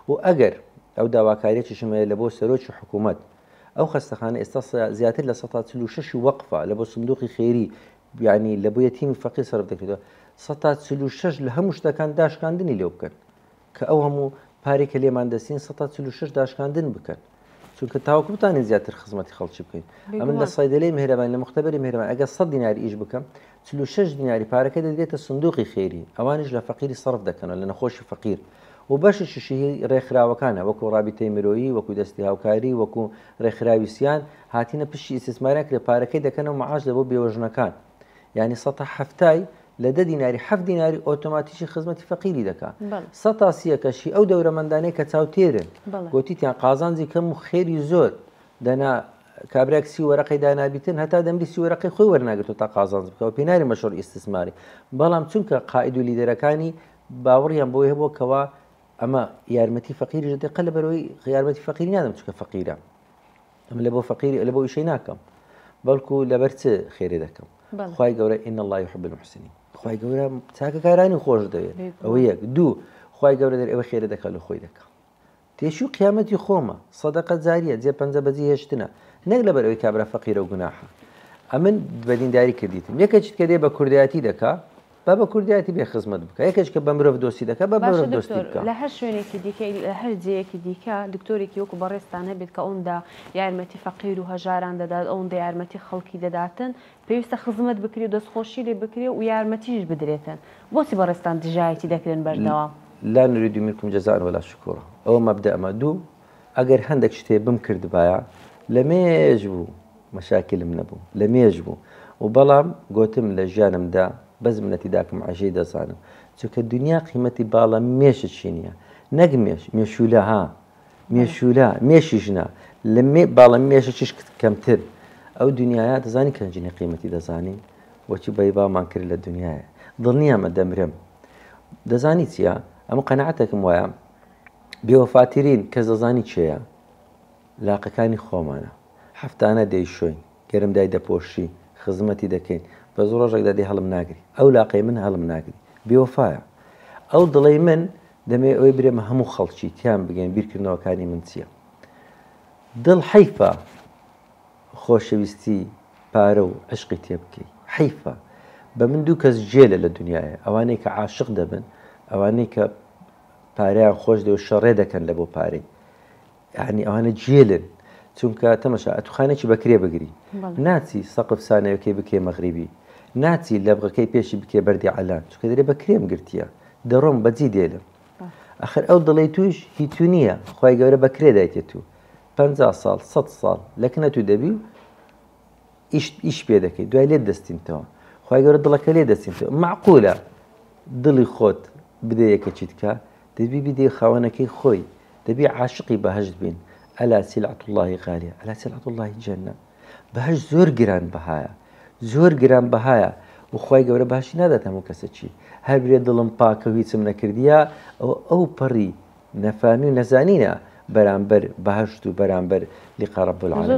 و ئەگەر ئەو داواکاریەتیشم هەیە لەبۆ سەرۆکی حکومەت ئەو خەستەخانە ئێستا زیاتر لە سەتا چل و شەشی وەقفە لە بۆ سندوقی خێری یعنی لە بۆ یەتیمی فەقیر سەرف دەکرێتەوە سەتا چل و شەش لە هەموو شتەکان داشکاندنی لێو بکەن کە ئەو هەموو پارێک کە لێمان دەسین سەتا چل و شەش داشکاندن بکەن چونکە تاوەکو بتانی زیاتر خزمەتی خەڵکی بکەیت ئەمن لە سایدەلەی مهرەبان لە مختبەری مهرەبان ئەگە سە دیناری ئیش بکەم چلو شش دیناری پارەکە دەدرێتە سندوقی خێری ئەوانش لە فەقیری سەرف دەکەنەوە لە نەخۆشی فەقیر و بەشی ششی ڕێکخراوەکانە وەکو ڕابیتەی مرۆیی وەکو دەستی هاوکاری وەکو ڕێکخراوی سیان هاتینە پشتی ئیسیسمارە کرێ پارەکەی دەکەنەوە معاش لە بۆ بێوەژنەکان یعنی سە هەفتای لە دە دیناری حەفت دیناری ئۆتۆماتیکی خزمەتی فەقیری دەکا سە تاسیەکەش هی ئەو دەورەمەندانەیە کە چاوتێرن گوتیتیان قازانجی کەم و خێری زۆر دەنا کابراک سی وەرەقی دانابیتن هەتا دەمری سی وەرەقی خۆی وەرناگرێت تا قازانج بکەوە پێناری مەشۆر ئیسسماری بەڵام چونکە قاعد و لیدەرەکانی باوەڕیان بۆیە بۆ کەوا ئەمە یارمەتی فەقیری دەقە لە بەرەوەی یارمەتی فەقیری نادەم چکە فەقیرە ئەمە لە بۆ فەقیری لە بۆ ئیشەی ناکەم بەڵکو لەبەر چ خێرێ دەکەم خی گەورە ئین اللهی حب المحسنین خی گەورە چاکەکارانی خۆش دەوێت ئەوە یەک دوو خی گەورە دەر ئەوە خێرە دەکات لە خۆی دەکەم تێشی و قیامەتی خۆمە سەدەقە جاریە جێ پەنجە بەجی هێشتنە نەک لەبەر ئەوی کابرا فەقیرە و گوناحە ئەمن بەدینداری کردیتم یەکە چیت کە دێ بە کوردایەتی دەکا با بە کوردایەتی بێ خزمەت بکە یەکێک کە بە مرۆڤ دۆستی دەکە بە مرۆڤ دۆستی بکە لە هەر شوێنێکی دیکەی لە هەر جێیەکی دیکە دکتۆرێکی وەکو بەڕێزتان هەبێت کە ئەوەندا یارمەتی فەقیر و هەژاران دەدات ئەوەندە یارمەتی خەڵکی دەداتن پێویستە خزمەت بکرێ و دەستخۆشی لێ بکرێ و یارمەتیش بدرێتن بۆچی بەڕێزتان دژایەتی دەکرێن بەردەوام. لا نرید منکم جزاء ولا شکورا ئەوە مەبدەئمە دوو ئەگەر هەندێک شتێ بم کردبایە لە مێژ بوو مەشاکلم نەبوو لە مێژ بوو و بەڵام گوتم لە ژیانمدا بەس منەتی داکم عژەی دەزانم چونکە دنیا قیمەتی باڵە مێشت چی نییە نەک مێش مێشولە ها مێشولە مێشی ژنە لە مێ باڵە مێشە چش کەمتر ئەو دنیاە دەزانی کەنجنی قیمەتی دەزانی وەچی بەی بامان کرد لە دنیاە دڵنیامە دەمرم دەزانی چییە ئەمە قەنەعاتێکم وایە بێوەفاترین کەس دەزانی کێیە؟ لاقەکانی خۆمانە. هەفتانە دەیشۆین، گەرم دای دەپۆشین، خزمەتی دەکەین، بەس ڕۆژێکدا دەی هەڵم ناگری. ئەو لاقەی من هەڵم ناگری. بێوەفایە. ئەو دڵەی من دەمەوێت ئەوەی برێمە هەموو خەڵکی تیان بگەین بیرکردنەوەکانی من چییە. دڵ حەیفە خۆشەویستی پارە و عشقی تێ بکەی. حەیفە. بە من دوو کەس جێلە لە دنیایە. ئەوانەی کە عاشق دەبن، ئەوانەی کە پارەیان خۆش دێ و شەڕێ دەکەن لە بۆ پارەی یعنی ئەوانە جێلن چونکە تەمەشا ئەتوخانێکی بەکرێ بگری ناچی سەقف سانەیەکەی بکێ مەغریبی ناچی لە بغەکەی پێشی بکێ بەردی ئالان چکە دەێ بە کرێم گرتیە دەڕۆم بەجی دێلم ئەخر ئەو دڵی توش هی تو نییە خی گەورە بەکرێ دایتێت و پ ساڵ سە ساڵ لەکنە تو دەبی و ئیشت ئیش پێ دەکەیت دوای لێت دەستینتەوە خی گەورە دڵەکە لێ دەستینتەوە معقولە دڵی خۆت بدە یەکە چیتکە دەبی بدێ خاوەنەکەی خۆی دەبی عاشقی بەهشت بین ئەلا سیلعەت اللهی غالیە ئەلا سیلعەت اللهی جەنە بەهش زۆر گران بەهایە زۆر گران بەهایە وخوای گەورە باشی نادات هەموو کەسە چی هەر برێ دڵم پاکە و هیچم نەکردیە ئەو ئەو پەڕی نەفامی و نەزانینە بەرامبەر بەهشت و بەرامبەر لقە ڕەب العالمین